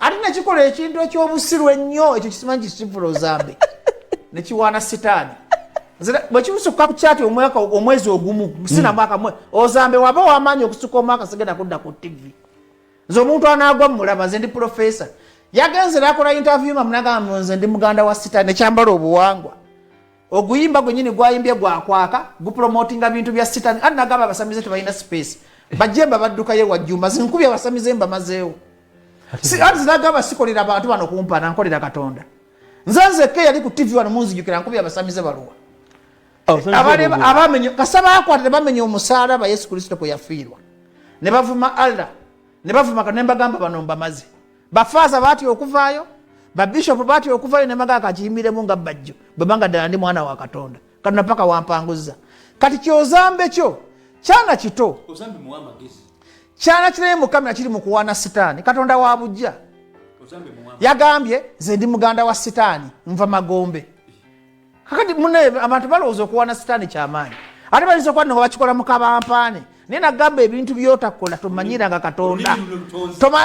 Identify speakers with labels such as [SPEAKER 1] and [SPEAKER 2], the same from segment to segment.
[SPEAKER 1] ate nekikola ekintu ekyobusiru ennyo ekyo kisimanyi kisivula ozambe nekiwaana sitaani bwekimusukka ku kyati omwaka omwezi ogumu sina hmm. mwaka ozambe waba wamaanyi okusuka omwaka sigenda kudda ku tivi nze omuntu anaagwa mumulaba nze ndi pulofesa yagenze nakola interview mamunagamba nze ndi muganda wa sitaani nekyambala obuwangwa oguyimba gwenyini gwayimbye gwakwaka gupromotinga bintu bya sitani ani nagamba abasamize tebalina space bajemba baddukayo wajjumba zinkubi abasamize mbamazeewo ati zinagamba sikolera bantu bano kumpana nkolera katonda nze nzekka eyali ku tv wano munzijukira nkubi abasamize baluwa abamenye kasa bakwata nebamenya omusaalaba yesu kristo kwe yafiirwa ne bavuma allah ne bavuma kanemba gamba bano mbamaze bafaaza baatya okuvaayo babishopu baatya okuvaayo nemaga akakiyimiremu nga bajjo bwebanga ddala ndi mwana wa katonda katona paka wampanguzza kati kyozambe kyo kyana kito
[SPEAKER 2] kyana kiraye
[SPEAKER 1] mukamera kiri mukuwaana sitaani katonda wa bujja
[SPEAKER 2] yagambye nze ndi
[SPEAKER 1] muganda wa sitaani nva magombe kakati mune abantu balowooza okuwana sitaani kyamaanyi ate bayinza okuba nga bakikola mu kabampaane naye nagamba ebintu byotakola tomanyiranga katonda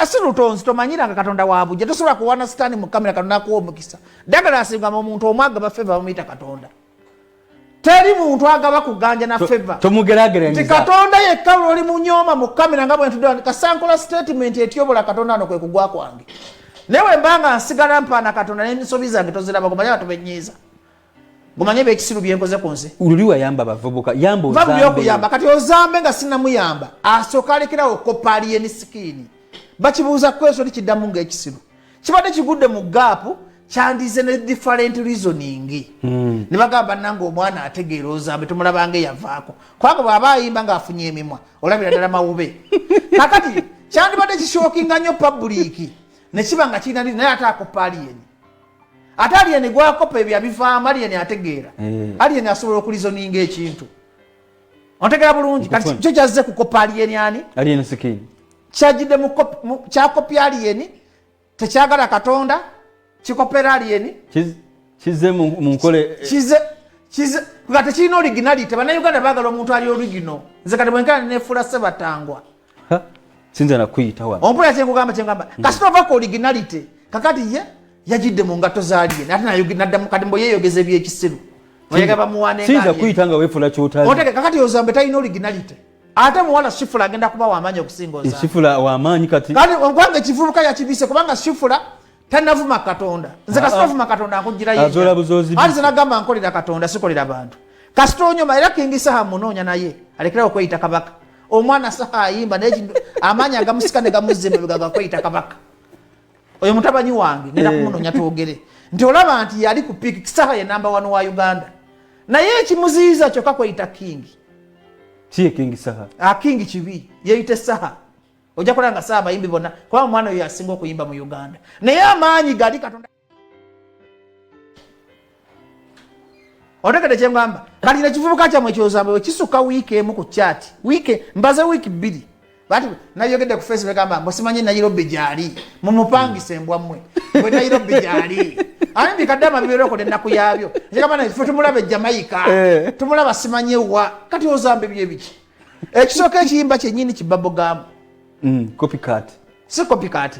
[SPEAKER 1] si lutonzi tomanyiranga katonda wabujja tosobola kuwana sitaani mu kamera katonda akuwa omukisa dagala asingama omuntu omu agaba feva bamuyita katonda teri muntu agaba kuganja na feva ti
[SPEAKER 2] katonda yekka
[SPEAKER 1] lwoli munyooma mu kamera nga bwentudde kasankola statement etyobola katonda ano kwe kugwa kwange naye wemba nga nsigala mpaana katonda n'emisobi zange toziraba gumanye abantu benyiiza gumanye ebyekisiru byenkoze ku nsi luli wayamba bavubuka
[SPEAKER 2] yamba ozambe byokuyamba kati
[SPEAKER 1] ozambe nga sinamuyamba asooka alekerawo okukoppa aliye ni sikiini bakibuuza kweso ti kiddamu ng'ekisiru kibadde kigudde mu gaapu kyandize ne different reasoning hmm. ne bagamba nange omwana ategeera ozambe tumulabanga eyavaako kubanga bw'aba ayimba ng'afunye emimwa olabira ddala mawube kakati kyandibadde kishokinga nnyo pabuliiki nekiba nga kirina naye ate akoppa aliyeni ate aliyeni gwakoppa ebyo abivaamu aliyeni ategeera eh. aliyeni asobola okulizoninga ekintu ontegera bulungi kati kyo kyazze kukoppa aliyeni ani
[SPEAKER 2] kyajidde
[SPEAKER 1] kyakopya aliyeni tekyagala katonda kikopera aliyeni kize
[SPEAKER 2] munkole kize
[SPEAKER 1] kize nga tekirina originality bannayuganda bagala omuntu ali origino nze kati bwenkana nefuula sebatangwa
[SPEAKER 2] sinza nakuyitawa ompulira kyenkugamba kyengamba
[SPEAKER 1] hmm. kasita ova ku originality kakati ye yagidde mu ngatto zaliye ate naddamu kati mbo yeyogeza ebyekisiru oyagaba muwanesinza kuyita nga wefuula
[SPEAKER 2] kyotali kakati ozambe talina
[SPEAKER 1] originality ate muwala shifula agenda kuba wamaanyi okusinga oza shifula wamaanyi kati
[SPEAKER 2] kati ogwange kivubuka
[SPEAKER 1] yakibise kubanga shifula tanavuma katonda nze kasita ah, ah. ovuma katonda nkugira yeati
[SPEAKER 2] zenagamba nkolera
[SPEAKER 1] katonda sikolera bantu kasita onyoma era kingi saha munoonya naye alekerawo okweyita kabaka omwana saha ayimba naye amaanyi agamusika ne gamuzza emabega gakweyita kabaka oyo mutabanyi wange ngenda eh. kumunonya twogere nti olaba nti yali ku piiki kisaha ye namba wano wa uganda naye ekimuziyiza kyoka kweyita kingi kiye
[SPEAKER 2] kingi saha akingi ah, kibi
[SPEAKER 1] yeyite saha ojja kulaba nga saha abayimbi bonna kuba omwana oyo yasinga okuyimba mu uganda naye amaanyi gali katonda otegede kyengamba kati nekivubuka kyamwe kyozambe wekisuka wiiki emu ku chat wiiki mbaze wiiki bbiri bati nayogedde ku face negamba musimanyi nairobi gyali mumupangisa embwa mmwe bwe nairobi gyali ani bikadde amabiberokola ennaku yabyo ekigamba na fe tumulaba ejamaika eh. tumulaba simanyi ewa kati ozambe byo ebiki ekisooka ekiyimba kyenyini kibabogamu mm,
[SPEAKER 2] si
[SPEAKER 1] kopikati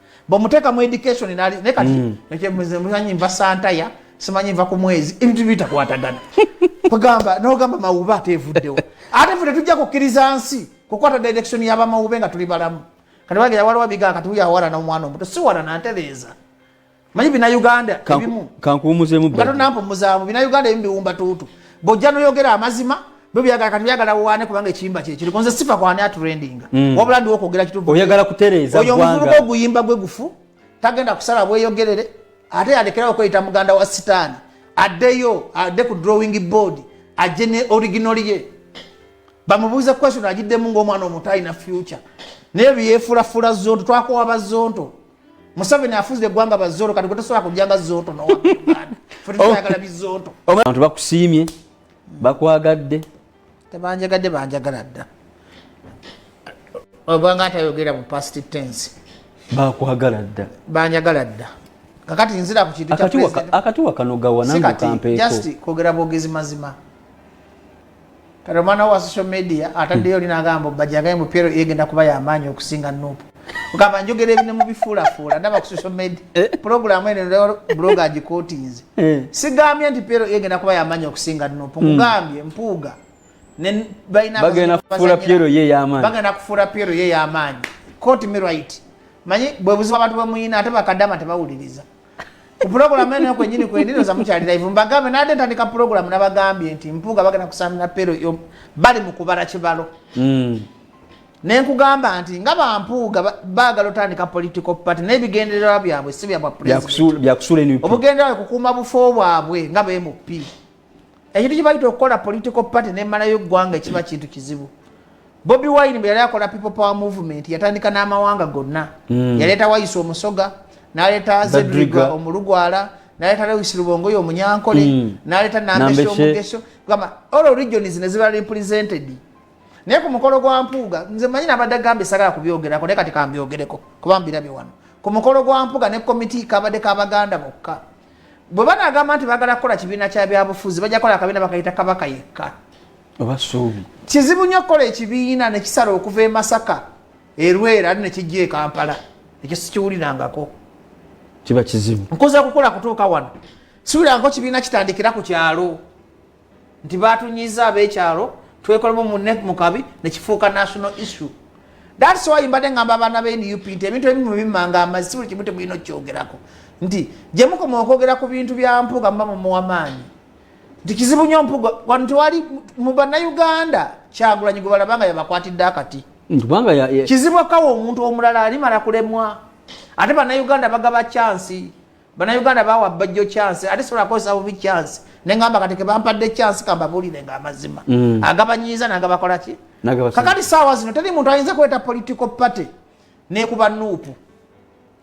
[SPEAKER 1] bamuteka mu education nali ne kati mm. nake muzanyi mva santaya simanyi mva ku mwezi ebintu bitakwatagana kugamba nogamba mawuba atevuddewo ate ffe tetujja kukkiriza nsi kukwata direction yabamawube nga tuli balamu kati bagera waliwo bigaa kati uyawalana omwana omuto siwalana ntereeza manyi bina uganda ebimu kankuwumuzemu nga
[SPEAKER 2] tonampumuzamu
[SPEAKER 1] bina uganda ebimu biwumba tuutu bojja noyogera amazima byagala kati byagala wane kubanga ekiyimba kye kiri konze sifa kwa nya trendinga mm. wabula ndi okogera kitubu oyagala kutereza oyo mufuru ko guyimba gwe gufu tagenda kusala bwe yogerere ate yalekera okweyita muganda wa sitani adeyo ade ku drawing board aje ne original ye bamubuuza question agiddemu ng'omwana omuto alina future naye byefulafula zonto twakowa bazonto museveni afuze eggwanga bazonto kati gwe tosobola kujanga zonto nowa fetutayagala bizonto abantu bakusiimye
[SPEAKER 2] bakwagadde
[SPEAKER 1] tebanjagadde banjagala dda ogwanga atayogera mu past tense bakwagala
[SPEAKER 2] dda banjagala dda
[SPEAKER 1] kakati nzira ku kintu akatiwa kanogawa
[SPEAKER 2] nange kampeekojust kwogera bwogezi
[SPEAKER 1] mazima kati omwana wa social media ataddeyo oli nagamba bajagaye mupyero egenda kuba yamaanyi okusinga nupu ogamba njogera ebine mubifuulafuula ndaba ku social media eh? pulogulamu eno bloga agikotinze eh. sigambye nti pera egenda kuba yamanyi okusinga nupu hmm. nkugambye mpuuga bagenda kufuula
[SPEAKER 2] pyero ye eyamaanyi bagenda kufuula pyero ye
[SPEAKER 1] eyamaanyi koti me right manyi bwe buzibu abantu bwemuyina ate bakadama tebawuliriza ku pulogulamu eno kwenyini kwendinoza mukyali live mbagambe nade ntandika pulogulamu nabagambye nti mpuuga bagenda kusamira pero bali mu kubala kibalo hmm. nenkugamba nti nga bampuuga bagala otandika political party naye bigendererwa byabwe si byabwaobugendererwa kukuuma bufo bwabwe nga bmp ekintu kibayita okukola political party nemalayo eggwanga ekiba kintu kizibu bobi wine bwe yali akola people power movement yatandika n'amawanga gonna hmm. yaleeta wayisa omusoga naleeta zedriga omulugwala naleeta lewis lubongoyo omunyankole hmm. naleeta nambeso omugeso gamba all regions nezibala represented naye ku mukolo gwa mpuuga nze manyi nabadde gambe sagala kubyogerako naye kati kambyogereko kuba mbirabye wano ku mukolo gwa mpuuga ne komiti kabadde kabaganda bokka bwe banagamba nti bagala kukola kibiina kya byabufuzi bajja kukola akabiina bakayita kabaka yekka oba
[SPEAKER 2] suubi kizibu nnyo okukola
[SPEAKER 1] ekibiina ne kisala okuva e masaka erwera ate ne kijja e kampala ekyo sikiwulirangako kiba
[SPEAKER 2] kizibu nkoza kukola kutuuka
[SPEAKER 1] wano siwulirangako kibiina kitandikira ku kyalo nti batunyiza abekyalo twekolemu mune mukabi nekifuuka national issue thats why mbadde ngamba abaana be nup nti ebintu ebimu bimanga amazi si buli kimu temulina okukyogerako nti gyemukoma okwogera ku bintu bya mpuga muba mumuwa maanyi nti kizibu nyo mpuga wano tewali mu bannayuganda kyagulanyi gwe balaba nga yabakwatidde akati kizibu akawa omuntu omulala alimala kulemwa ate bannayuganda bagaba kyansi banauganda bawa bajjo chance ate sobola kukozesa bubi chance nengamba kati kebampadde chance kambabulire nga amazima mm. agabanyiiza nagabakolaki kakati saawa zino teri muntu ayinza kuleeta political party nekuba nuupu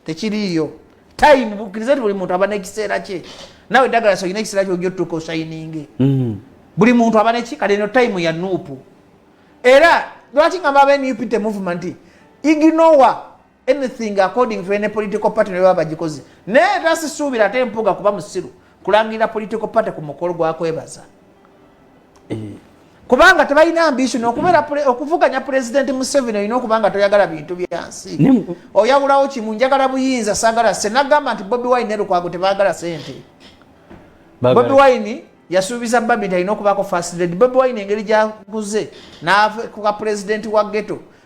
[SPEAKER 1] tekiriiyo time bukkiriza nti buli muntu aba nekiseera kye nawe dagala soyina ekiseera kyojo tuka osayininge mm. buli muntu aba neki kati eno time ya nuupu era lwaki ngamba abenup te movement ignowa anything according to any political party ne baba bagikoze naye tasisuubira ate mpuga kuba musiru kulangirira political party ku mukolo gwakwebaza eh. kubanga tebalina ambition okubeera okuvuganya pulezidenti museveni olina okubanga toyagala bintu byansi oyawulawo kimu njagala buyinza sagala se nagamba nti bobi wine nelukwago tebagala sente bobi wine yasuubiza babi nti alina okubaako first lady bobi wine engeri gyaguze nakuka pulezidenti wa geto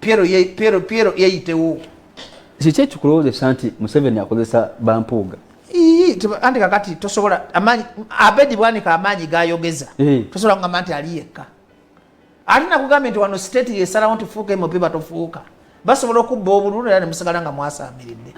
[SPEAKER 1] Piero ye Piero Piero yeyitewo. Kiki
[SPEAKER 2] ekikulowozesa nti Museveni akozesa bampuuga? Ii tiba andi
[SPEAKER 1] kakati tosobola amanyi abedi bwanika amanyi gayogeza. Hey. Tosobola ngamba nti ali yekka. Ati nakugambye nti wano state yesalawo nti fuuka MOP batofuuka. Basobola okubba obululu era ne musigala nga mwasaamiridde.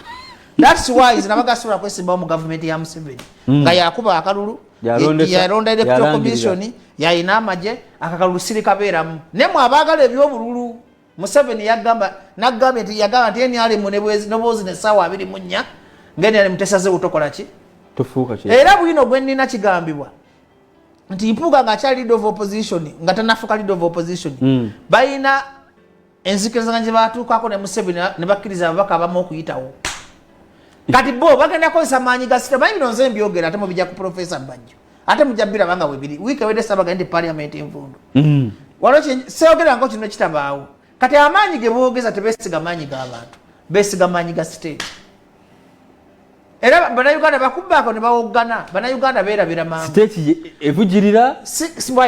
[SPEAKER 1] That's why zinabaga asobola kwesimbawo mu gavumenti ya Museveni. Mm. Nga yakuba akalulu. yalonda electoral commission yalina amagye akakalulu sirikabeeramu naye mwe abaagala ebyobululu museveni yagamba nagambye nti yagamba nti nrm nobwozi nesaawa abiri mu nnya nga nrm tesazewo tokola ki era
[SPEAKER 2] bwino gwe nnina
[SPEAKER 1] kigambibwa nti mpuuga ngaakyali lead of opposition nga tanafuka lead of opposition mm. balina enzikirizaganya gye baatuukaako ne museveni ne bakkiriza ababaka abamu okuyitawo kati bo bagenda kozesa maanyi ga sita bayibino nze mbyogera ate mubija ku profesa bajjo ate mujja biraba nga webiri wiiki ewedde sabaga nti parliament envundu mm. waliwo seogera ngo kino kitabaawo kati amaanyi ge boogeza tebesiga maanyi g'abantu besiga maanyi ga state era banauganda bakubaako ne bawoggana banauganda beerabira mangu
[SPEAKER 2] state
[SPEAKER 1] evugirira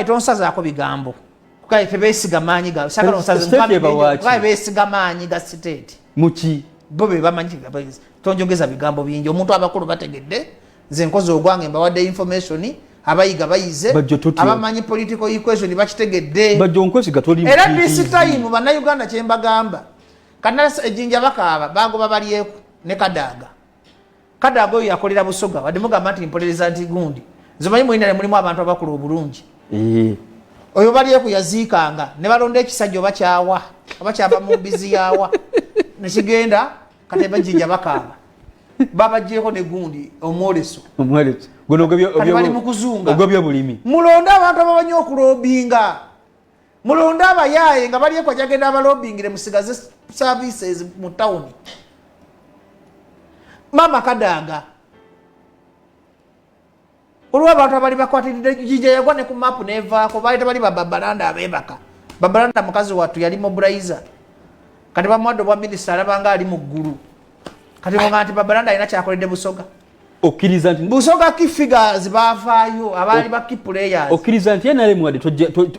[SPEAKER 2] tonsazaako
[SPEAKER 1] bigambo kale tebesiga maanyi ga sagala osazebawe besiga maanyi ga siteeti muki bo
[SPEAKER 2] be bamanyi
[SPEAKER 1] tonjogeza bigambo bingi omuntu abakulu bategedde nze nkozi ogwange mbawadde information abayiga bayize abamanyi political equation bakitegedde
[SPEAKER 2] era this time
[SPEAKER 1] bannayuganda kyembagamba kanasa ejinja bakaaba bagoba balyeku ne kadaaga kadaga oyo yakolera busoga wadde mugamba nti mpolereza nti gundi nzimanyi mulinale mulimu abantu abakula obulungi oyo balyeku yaziikanga ne balonda ekisajja oba kyawa oba kyava mu mbizi yawa nekigenda katemba jinja bakaaba babajjeko ne gundi omwoleso
[SPEAKER 2] bali mu kuzunga
[SPEAKER 1] mulonde
[SPEAKER 2] abantu ababanyi
[SPEAKER 1] okulobinga mulonde abayaaye nga balyekwa jagenda abalobingire musigaze services mu tawuni maama kadaaga olwo abantu abali bakwatiridde jija yagwa ne ku maapu nevaako baali tebali bababalanda abebaka babalanda mukazi wattu yali mobilizer kati bamuwadde obwa minisita alabanga ali mu ggulu kati nga nti babalanda alina kyakoledde busoga okkiriza nti
[SPEAKER 2] busooka ki figures
[SPEAKER 1] baavaayo abaali ba ki players okkiriza nti nrm
[SPEAKER 2] wadde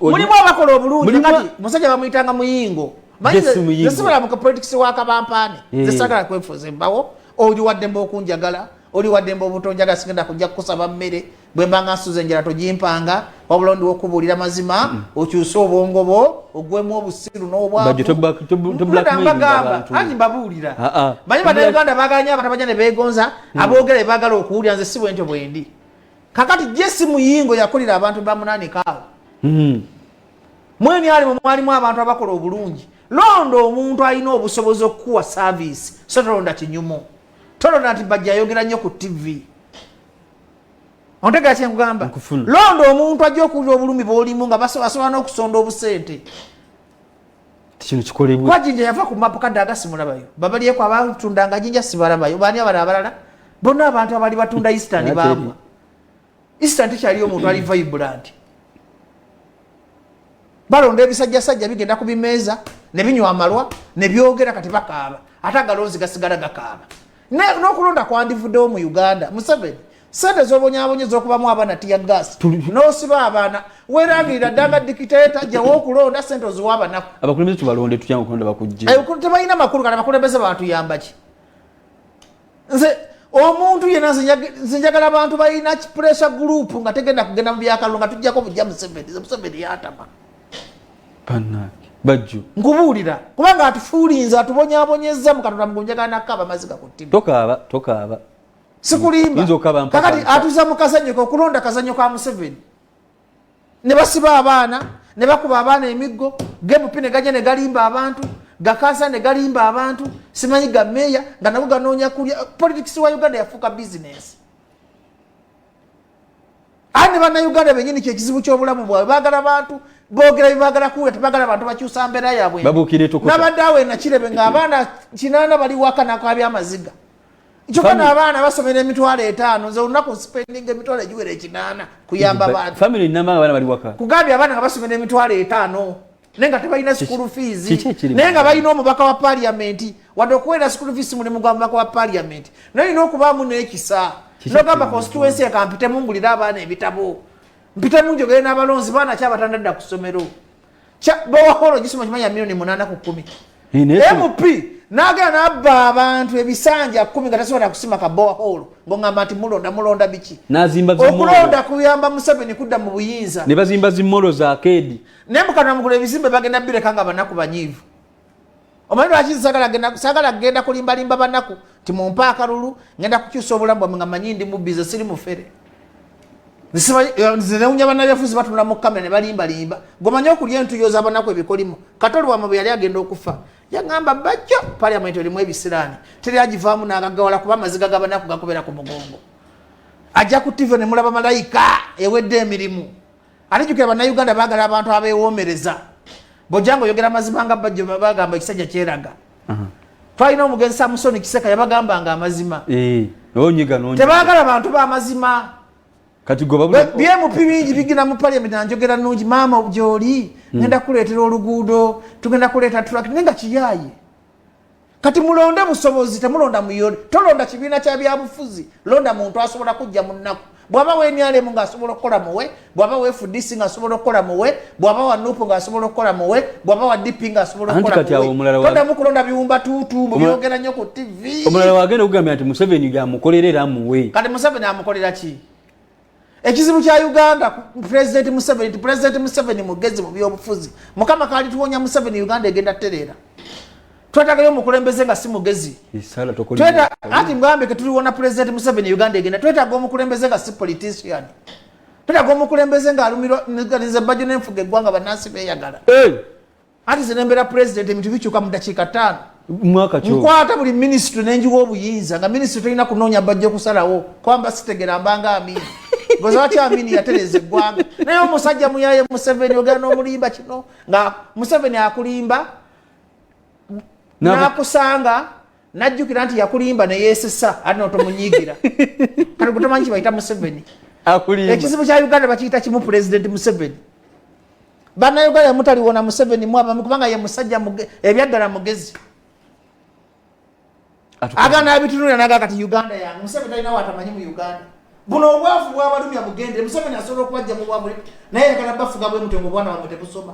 [SPEAKER 2] mulimu abakola
[SPEAKER 1] obulungi kati musajja bamuyitanga muyingo manyisobola muka politics wa kabampaane eh. zesagala kwefuuza embawo oli waddemba okunjagala oli waddemba obutonjagala sigenda kujja kukusaba mmere bwemba nga nsuza enjala togimpanga wabula ondiwa okubuulira mazima mm. okyuse obwongo bwo ogwemu obusiru n'obwabagamba anti mbabuulira ah, ah. manyi banauganda bagala nyo abantu abaja ne begonza mm. aboogera bebagala okuwulira nze si bwentyo bwendi kakati jesi muyingo yakolera abantu bamunanikaawo mm. mwemi alimu mwalimu abantu abakola obulungi londa omuntu alina obusobozi okukuwa saviisi so tolonda kinyumu tolonda nti bajja ayogera nnyo ku tivi ontegera kyenkugamba londa omuntu ajja okuwulira obulumi bwolimu nga basobola n'okusonda obusente
[SPEAKER 2] kino kikolebwe kwa jinja yava ku mapu kadde
[SPEAKER 1] agasimulabayo babalyeko abatundanga jinja sibalabayo baani abala abalala bonna abantu abali batunda eastern baamwa eastern tekyaliyo omuntu ali vibrant balonda ebisajjasajja bigenda ku bimeeza ne binywa amalwa ne byogera kati bakaaba ate agalonzi gasigala gakaaba n'okulonda kwandivuddewo mu uganda museveni sente zobonyabonye zokubamu abaana tiya gas nosiba abaana werangirira ddanga dikiteta jawo okulonda sente oziwa abanaku abakulembeze tubalonde tutya
[SPEAKER 2] okulonda bakujje tebalina makulu kati
[SPEAKER 1] abakulembeze batuyambaki nze omuntu yena zinjagala abantu balina pressure group nga tegenda kugenda mu byakalulu nga tujjako bujja museveni museveni yatama
[SPEAKER 2] bajju nkubuulira kubanga
[SPEAKER 1] atufuulinze atubonyabonyezza mu katonda mugunjagala nakaaba amazzi gakuttibwa tokaaba tokaaba sikulimbakakati atuza mu kazanyo ke okulonda kazanyo ka museveni ne basiba abaana ne bakuba abaana emiggo gebupi ne gajja ne galimba abantu gakansa ne galimba abantu simanyi ga meeya nga nago ganoonya kulya politics wa uganda yafuuka bizinesi ani bannayuganda benyini kyekizibu kyobulamu bwabwe bagala bantu bogera bibagala kuwula tebagala bantu bakyusa mbeera yabwenabadde awo enakirebe ngaabaana kinana bali waka nakabya amaziga kyoka naabaana basomera emitwalo etaano nze olunaku nsipendinga emitwalo egiwera ekinaana kuyamba baantu
[SPEAKER 2] kugambye abaana nga basomera
[SPEAKER 1] emitwalo etaano naye nga tebalina school fees naye nga balina omubaka wa parliament wadde okuweera school fees mulimu gwa mubaka wa parliament naye olina okubaamu n'ekisa nogamba constituency ekampitemu ngulira abaana ebitabo mpitemu njogere n'abalonzi baana kyabatandadda ku ssomero bawaholo gisoma kimanya milioni munaana ku kumi mp nagera nabba abantu ebisanja kumi nga tasobola kusima kabowa hall ngongamba nti mulonda mulonda biki okulonda kuyamba museveni kudda mu buyinza ne bazimba zimolo
[SPEAKER 2] za kedi naye mukatonda mukulu
[SPEAKER 1] ebizimbe bagenda bireka nga banaku banyiivu omanyi lwaki sagala kugenda kulimbalimba banaku nti mumpe akalulu ngenda kukyusa obulamu bwamwe nga manyi ndi mubbize siri mufere zinewunya banabyafuzi batunula mu kamera ne balimbalimba gomanye okulya entuyo zabanaku ebikolimo katoli wamwe bwe yali agenda okufa yagamba bajjo paliament erimu ebisiraani teri agivaamu nagagawala kuba amaziga gabanaku gakubera ku mugongo ajja ku tive ne mulaba malayika ewedde emirimu Ani jukira bannayuganda baagala abantu abeewoomereza. Bojanga oyogera amazima nga bajjo bagamba ekisajja kyeraga. Twalina omugenzi Samusoni Kiseka yabagamba nga amazima. Eh, onyiga n'onyiga. Tebaagala bantu ba mazima. Kati goba
[SPEAKER 2] bwe BMP bingi bigina
[SPEAKER 1] mu parliament anjogera nungi maama obujooli hmm. ngenda kuleetera oluguudo tugenda kuleeta tulakiti nenga kiyaye kati mulonde busobozi temulonda muyole tolonda kibiina kya byabufuzi londa muntu asobola kujja mu nnaku bwaba wenrm ngaasobola okukola muwe bwaba wefudc ngaasobola okukola muwe bwaba wa nup ngaasobola okukola muwe bwaba wa dp ngaasobola okukolamuweodamu kulonda biwumba tuutu mubyogera nnyo ku tv omulala wagenda okugambira nti
[SPEAKER 2] museveni gyamukolera era muwe kati museveni amukolera
[SPEAKER 1] ki ekizibu kya uganda president museveni nti president museveni mugezi mu byobufuzi mukama kalituwonya museveni uganda egenda tereera twetagayo omukulembeze nga si mugezi anti mugambe ketuliwona president museveni uganda egenda twetaga omukulembeze nga si politician twetaga omukulembeze nga alumirwa nze bajjo nenfuga eggwanga banansi beyagala anti ze nembeera pulezidenti ebintu bikyuka mu dakiika ttaano
[SPEAKER 2] nkwata buli minisitule
[SPEAKER 1] nenjiwa obuyinza nga minisitule tolina kunoonya bajja okusalawo kwamba sitegera mbanga amini goza watya amini yatereza eggwanga naye omusajja muyaye museveni ogera n'omulimba kino nga museveni akulimba nakusanga najjukira nti yakulimba neyesesa ate notomunyigira kati gutamanyi kibayita museveni ekizibu
[SPEAKER 2] kya uganda
[SPEAKER 1] bakiyita kimu pulezidenti museveni banauganda mutaliwona museveni mwabami kubanga ye musajja ebyaddala mugezi agana abitunulira naga kati uganda yange museveni talina watamanyi mu uganda buno obwavu bwabalumya bugende museveni asobola okubajja mu bwabuli naye yagala bafuga bwemutengo obwana bamwe tebusoma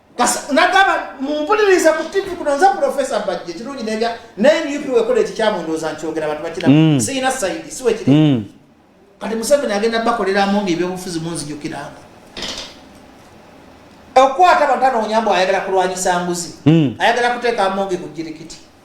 [SPEAKER 1] nagamba mumpuliriza ku tivi kuno nza profesa mbajje kirungi nebya naye nup wekola ekikyamu ndooza nkyogera abantu bakira mm. siyina saidi siwekiri mm. kati museveni agenda bakoleramu nga ebyobufuzi munzijukiranga okukwata abantu anoonya mbu ayagala kulwanyisa nguzi mm. ayagala kuteeka amonge ku jirikiti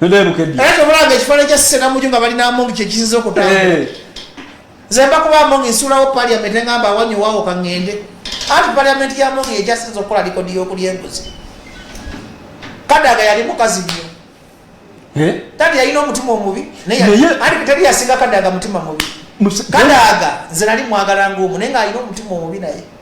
[SPEAKER 1] Nende
[SPEAKER 2] bukedi. Era tobulanga ekifananyi kya
[SPEAKER 1] Sena Muju nga bali n'amongi kye kisinze okutambula. Eh. Nze mba kuba amongi nsuulawo parliament ngamba awanyo wawo ka ng'ende. Anti parliament ya amongi yejasinze okukola likodi y'okulya enguzi. Kadaga yali mukazi nnyo. Eh? Tadi yalina omutima omubi naye anti tadi yasinga Kadaga mutima mubi. Kadaga nze nali mwagala ng'omu naye ng'alina omutima omubi naye.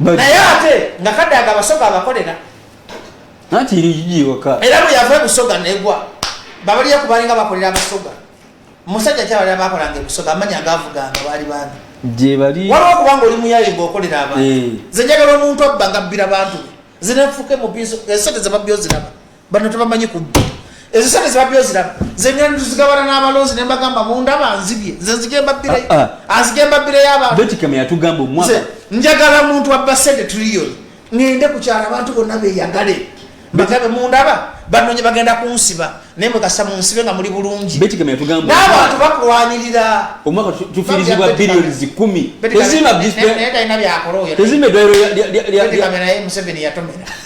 [SPEAKER 1] naye ate nga kadaga abasoga abakolera nanti
[SPEAKER 2] irijiwaka era bwe yava ebusoga
[SPEAKER 1] negwa babaliyo kubalinga bakolera abasoga musajja kyabalira bakolanga ebusoga amanya agavuganga baali bandi gyebali waliwo
[SPEAKER 2] okubanga oli muyaye
[SPEAKER 1] ngaokolera abantu eh. zenjagala omuntu abba ngabbira bantu be zinafuke mubiso esente zebabyo ziraba bano tebamanyi kubba ezo sente zibabbi oziraba zengera nituzigabana n'abalonzi ne mbagamba mundaba nzibye nze nzigembabbire ah, ah. anzigembabbire y'abantubetikame yatugamba omwaka
[SPEAKER 2] njagala
[SPEAKER 1] muntu abba sente tuliyoni ŋende
[SPEAKER 2] ku
[SPEAKER 1] kyalo abantu bonna beyagale bagabe mundaba banonye bagenda kunsiba naye mwekasa munsibe nga muli bulungi n'abantu
[SPEAKER 2] bakulwanirira
[SPEAKER 1] omwaka
[SPEAKER 2] tufirizibwa biliyoni zikumi tezimba
[SPEAKER 1] tezimba edwaliro
[SPEAKER 2] naye
[SPEAKER 1] museveni yatomera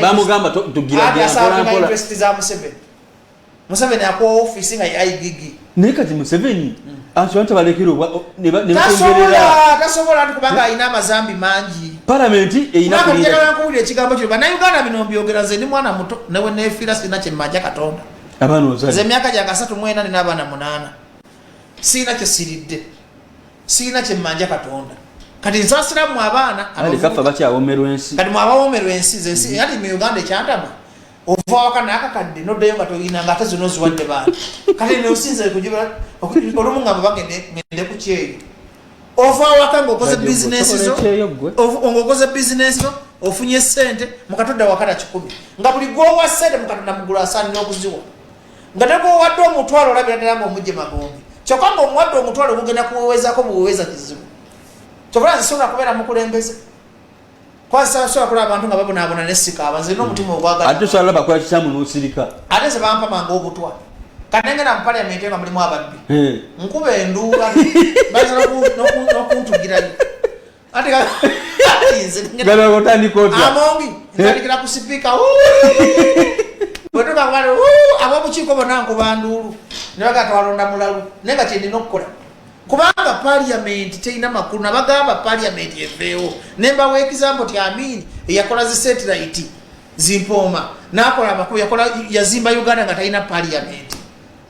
[SPEAKER 1] bamugamba
[SPEAKER 2] tugiramuseveni
[SPEAKER 1] museveni akuwa ofisi nga yaigigi e naye kati museveni
[SPEAKER 2] hmm. anti balekerobatasobola
[SPEAKER 1] nti kubanga alina amazambi mangi palamenti
[SPEAKER 2] einakuwulira ekigambo
[SPEAKER 1] kino banauganda bino mbyogera nze ndi mwana muto newe nefiira sirina kyemmanja katonda abaana ozali
[SPEAKER 2] emyaka gyange asatu mwena
[SPEAKER 1] nina abaana munaana sirina kyesiridde sirina kyemmanja katonda kati nsasira mu abaana kafa bakyawomerwa
[SPEAKER 2] ensi kati mwabawomerwa ensi
[SPEAKER 1] zensi mm-hmm. ati mu uganda ekyantama ova waka nakakadde noddayo nga toyina nga ate zona oziwadde baana kati nosinza kujibula olumu nga babagende ngende ku kyeyo ova waka ngaokoze bizinesi zo ngaokoze bizinesi zo ofunye sente mukatodda wakata kikumi nga buli gwowa sente mukatodda mugulu asaanira okuziwa nga negwowadde omutwalo olabira ddala nga omujje magombe kyokka nga omuwadde omutwalo gugenda kuwewezako buweweza kizibu kyokola nzisobola kubeera mukulembeze kwasasobola kulaba abantu nga babonabona nesikaaba nze na omutima ogwagalabakolakikyamunosirika
[SPEAKER 2] ate ze bampamanga
[SPEAKER 1] obutwa kanengera mu paliamenti nga mulimu ababbi nkuba enduula baza nokuntugirayo ate gana
[SPEAKER 2] otandika otya amongi ntandikira
[SPEAKER 1] ku sipiika bwetuka kubali abobukiiko bona nkuba nduulu ne baga twalonda mulalu naye nga kyendina okukola kubanga paliamenti terina makulu nabagamba paliamenti eveewo nembawa egizambo ti amini eyakola zi satellite zimpooma nakola amakulu yakola yazimba uganda nga talina paliamenti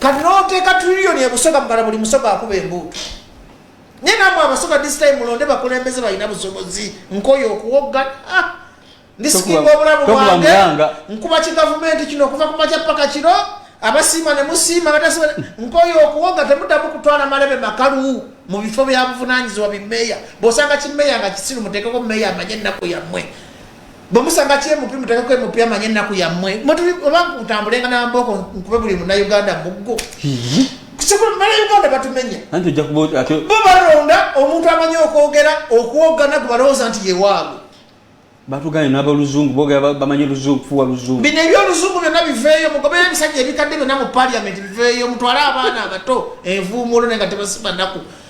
[SPEAKER 1] kati noteeka trillion ebusoga mugala buli musoga akuba embuutu naye namwe abasoga this time mulonde bakulembeze balina busobozi nkoyo okuwoggana ah, ndisikinga obulamu bwange nkuba kigavumenti kino okuva kumakya paka kiro abasiima ne musiima batasiima nkoyo okuwoga temuddamu kutwala malebe makalu mu bifo byabuvunanyizibwa bimeeya bwosanga kimeeya nga kisiru muteekeko meeya amanye ennaku yammwe bwemusanga kyemupi mutekeko emupi amanye ennaku yammwe oba kutambulenga nambooko nkube buli munauganda muggo sikumala uganda batumenya bo balonda omuntu amanyi okwogera okuwogana gwe balowooza nti yewaabwe batugane
[SPEAKER 2] nabaluzungu bogera bamanyi luzungu kufuwa luzungu bino ebyoluzungu byonna
[SPEAKER 1] biveeyo mugobere ebisajja ebikadde byonna mu paliament biveeyo mutwale abaana abato envuumuulo naye nga tebasiba naku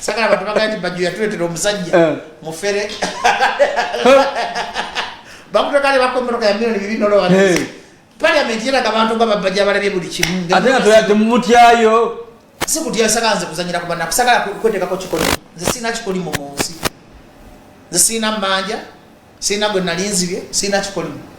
[SPEAKER 1] sagala abantu bagala nti bajjo yatuletera omusajja eh. mufere bakuteka ne bakomeroka ya milioni bibiri nolowa eh. parliament yeraga abantu nga babajja balabye buli kimu ate nga toyadde
[SPEAKER 2] mumutyayo si kutya
[SPEAKER 1] sagala nze kuzanyira kubana kusagala kwetekako kikoli nze sirina kikolimu mu nsi nze sirina mmanja sirina gwe nalinzibye sirina kikolimu